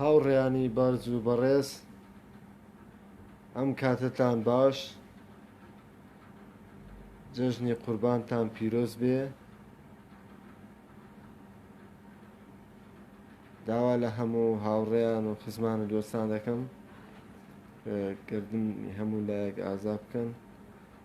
هاوڕێیانی بەڕز و بەڕێز ئەم کاتتان باش جەژنی قوربانتان پیرۆز بێ داوا لە هەموو هاوڕێیان و خزمان و دۆستان دەکەم کردنی هەموو لایەک ئازا بکەن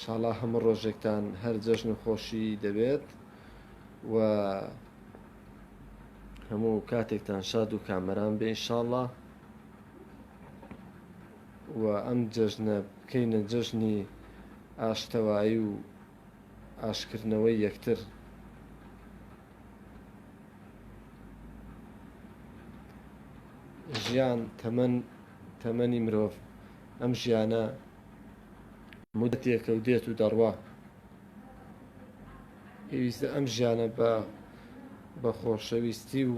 شاڵا هەموو ڕۆژێکتان هەر جەژن و خۆشی دەبێت و هەموو کاتێکتان شاد و کامەران بێ شاڵە و ئەم جەژنە بکەینە جەژنی ئاشتەوایی و ئاشکردنەوەی یەکتر ژیان تەمەەن تەمەنی مرۆڤ ئەم ژیانە مودەتێکە و دێت و دەڕوا. پێویستە ئەم ژیانە بە بە خۆشەویستی و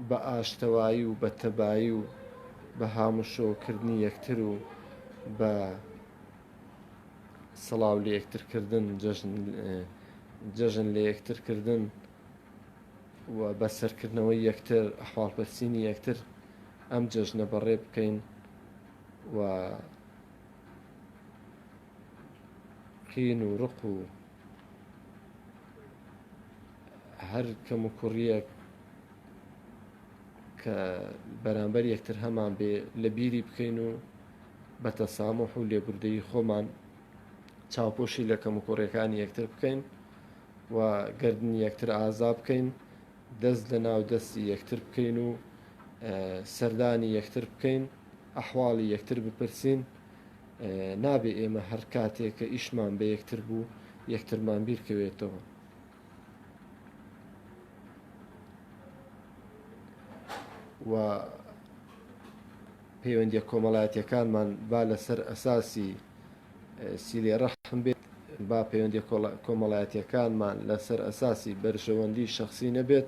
بە ئاشتەوایی و بە تەبایی و بە هاموشۆکردنی یەکتر و بە سەڵاو لە یەکترکردن جەژن لە یەکترکردن و بە سەرکردنەوەی یەکتر ئەحواڵپرسینی یەکتر ئەم جەژنە بەڕێ بکەین. و قین و ڕق و هەر کەم و کوڕیەک کە بەرامبەر یەکتر هەمان بێ لە بیری بکەین و بە تەسامح و لێبوردەی خۆمان چاوپۆشی لە کەم و کوڕەکانی یەکتر بکەین و گردنی یەکتر ئازا بکەین دەست لە ناو دەستی یەکتر بکەین و سەردانی یەکتر بکەین ئەحواڵی یەکتر بپرسین نابێ ئێمە هەر کاتێک کە ئیشمان بە یەکتر بوو یەکترمان بیرکەوێتەوە و پەیوەندی کۆمەڵایەتەکانمان با لەسەر ئەساسی سیلێ ڕەحم بێت با پەیوەندیە کۆمەڵایەتیەکانمان لەسەر ئەساسی بەرژەوەندی شخصی نەبێت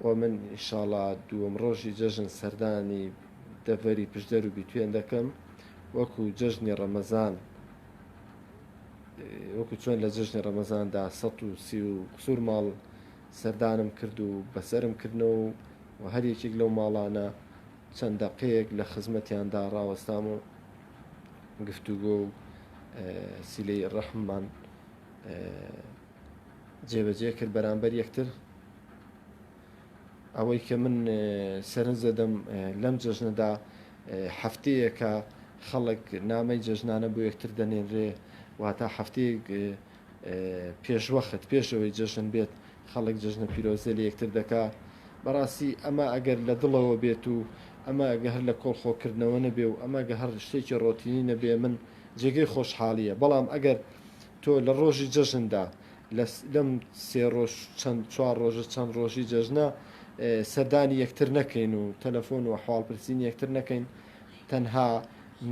و من ئیشاڵا دووەم ڕۆژی جەژن سەردانی دەڤەری پشدەر و بیتوێن دەکەم وەکو جەژنی ڕەمەزان وەکو چۆن لە جژنی ڕەمەزاندا 130 و قسوور ماڵ سەردانم کرد و بەسرم کردنەوە و هەر یەکێک لەو ماڵانە چەند دەقەیەک لە خزمەتیاندا ڕاوەستام و گفتوگۆ و سیلەی ڕەحممان جێبەجێ کرد بەرامبەر یەکتر ئەوەی کە من سەرنج دەدەم لەم جەژنەدا هەفتەیەکە خەڵک نامەی جەژنانە بۆ یەکتر دەنێنرێ واتە هەفتەیەک پێشوەخت پێش ئەوەی جەژن بێت خەڵک جەژنە پیرۆزێ لە یەکتر دەکا بەڕاستی ئەمە ئەگەر لە دڵەوە بێت و ئەمە گە هەر لە کۆڵخۆکردنەوە نەبێ و ئەمە گە هەر شتێکی ڕۆتینی نەبێ من جێگەی خۆشحاڵیە بەڵام ئەگەر تۆ لە ڕۆژی جەژندا لەم سێ ڕۆژ چەند چوار ڕۆژە چەند ڕۆژی جەژنە سەردانی یەکتر نەکەین و تەلەفۆن و حواڵپرسین یەکتر نەکەین تەنها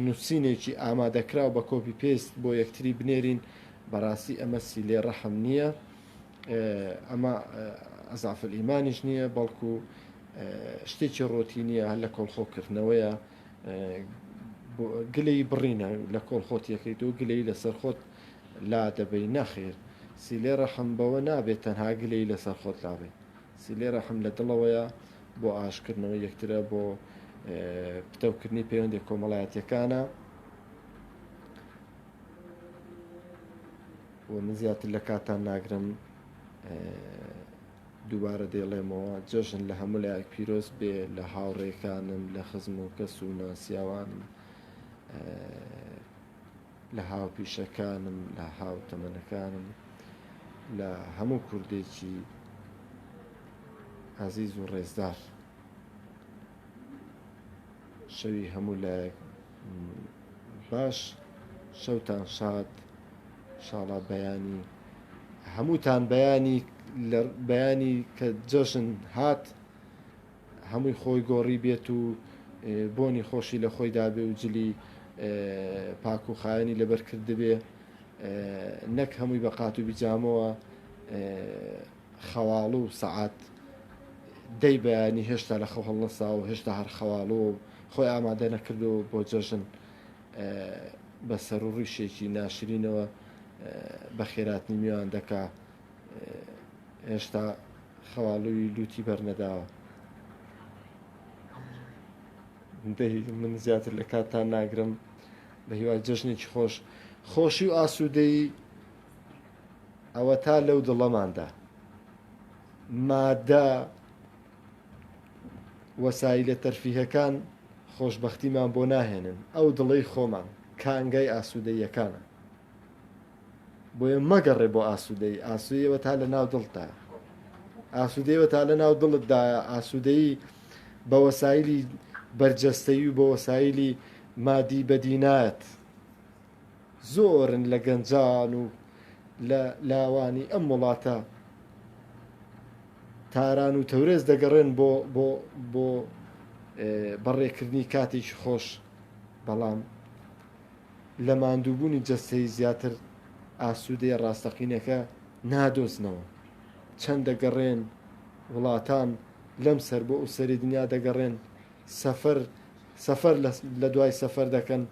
نووسینێکی ئامادەکراو بە کۆپی پێست بۆ یەکتری بنێرین بەڕاستی ئەمە سیلەی ڕەحم نییە ئەمە ئەزافل ئیمانیش نییە بەڵکو شتێکی ڕۆتی نییە هەر لە کۆڵخۆکردنەوەیە گلەی بڕینە لە کۆڵ خۆتیەکەیت و گلەی لەسەر خۆت لا دەبەی نەخێر سیلێ ڕەحم بەوە نابێت تەنها گلەی لەسەر خۆت لابێت سیلێ ڕەحم لە دڵەوەیە بۆ ئاشکردنەوە یەکترە بۆ پتەوکردنی پەیوەندی کۆمەڵایەتەکانە و من زیاتر لە کاتان ناگرم دووبارە دەیڵێمەوە جەژن لە هەموو لایەک پیرۆز بێ لە هاوڕێکانم لە خزم و کەس و ناسیاوانم لە هاوپیشەکانم لە هاوتەمەنەکانم لە هەموو کوردێکی ئازیز و ڕێزدار شەوی هەموو لایەک باش شەوتان شاد شاڵا بەیانی هەمووتان بەیانی لە بەیانی کە جەژن هات هەمووی خۆی گۆڕی بێت و بۆنی خۆشی لە خۆی دابێ و جلی پاک و خایەنی لەبەر کردبێ نەک هەمووی بە قات و بیجامەوە خەواڵوو سەعات دەی بەیانی هێشتا لە خەو هەڵنەسا و هێشتا هەر خەواڵووە و خۆی ئامادە نەکردو بۆ جەژن بە سەرو ڕیشێکی ناشرینەوە بە خێراتنی میوان دەکا هێشتا خەواڵووی لوتی بەرنەداوە من زیاتر لە کاتتان ناگرم بە هیوای جەژنێکی خۆش خۆشی و ئاسوودەی ئەوەتا لەو دڵەماندا مادە وەسایلە تەرفیهەکان خۆشبەختیمان بۆ ناهێنن ئەو دڵی خۆمان کانگای ئاسوودەیەکانە بۆیە مەگەڕێ بۆ ئاسوودەی ئاسوودەوە تا لە ناو دڵتا ئاسوودەوە تا لە ناو دڵتدایە ئاسوودەی بە وەسایلی بەرجەستەی و بە وەسایلی مادی بەدینایەت زۆرن لە گەنجان و لە لاوانی ئەم وڵاتە تاران و تەورێز دەگەڕێن بۆ بەڕێکردنی کاتێکی خۆش، بەڵام لە ماندووبوونی جەستەیی زیاتر ئاسوودەیی ڕاستەقینەکە نادۆزنەوە. چەند دەگەڕێن وڵاتان لەم سەر بۆ ئەو سەری دنیا دەگەڕێن، سەفەر لە دوای سەفەر دەکەن.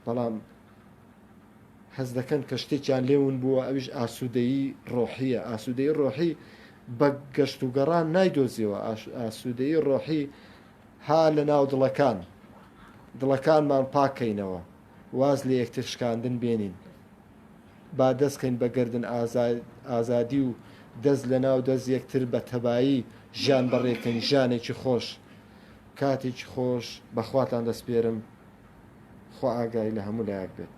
بەڵام حەز دەکەن کە شتێکیان لێ ون بووە ئەویش ئاسوودەیی ڕۆحیە ئاسوودەی ڕۆحی بە گەشت و گەڕان نایدۆزیەوە ئاسوودەی ڕۆحی ها لە ناو دڵەکان دڵەکانمان پاکەینەوە واز لە یەکتر شکاندن بێنین با دەستکەین بە گردن ئازادی و دەست لە ناو دەست یەکتر بە تەبایی ژیان بەڕێکەین ژیانێکی خۆش کاتێکی خۆش بەخواتان دەستپێرم خوا ئاگای لە هەموو لایەک بێت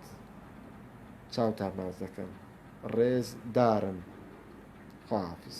چاوتان باز دەکەن ڕێز دارن خواحافیز